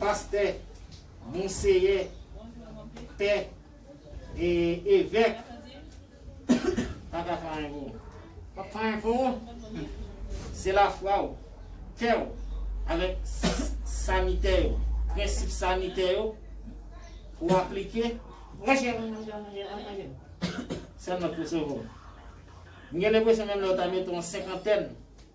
Pastè, Monseyè, Pè, e Evèk pa ka fè anyen pou ou. P ap fè anyen pou ou? Se lafwa ou, kè ou, avèk sanitè yo, prensip sanitè yo pou ou aplike. Monchè, m sèlman k pou sove ou. M gen lenpresyon menm lè ou ta mete yon senkantèn.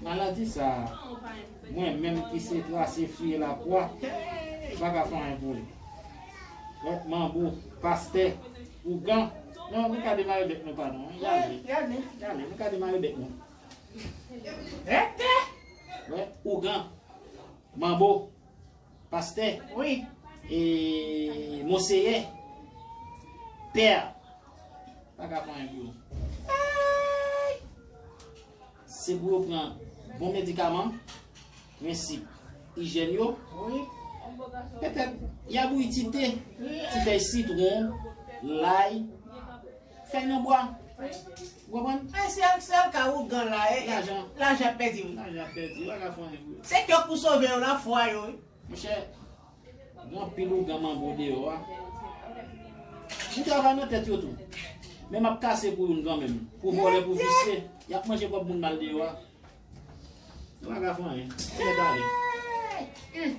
Maladi sa a mwen menm ki se trase fye lakwa pa ka fè anyen pou li. Lòt manbo, pastè, ougan, non nou ka demare bèk nou pa nou an. Yale, yale nou ka demare bèk nou. Rete! Ougan, manbo. Pastè wi e monseyè pè a pa ka pran enpou eeyy se pou yo pran bon medikaman prensip ijèn yo petèt ya bouyi ti te ti fèy sitron lay Fèy nan bwa. Ou konprann? Fèy se al sèl ka ougan la e. Lajan. Lajan ap pèdi wi. Lajan ap pèdi. Ou pa ka fè anyen pou yo. Se kè w pou sove yo la fwa yo wi. Monchè. Gen anpil ougan manbo deyò a. M travay nan tèt yo tou. Men map kase pou youn kanmenm. Pou vòlè pou visye. Yap manje kòb moun mal deyò a. Yo pa ka fè anyen. Yo mèt ale. Eey. Humm.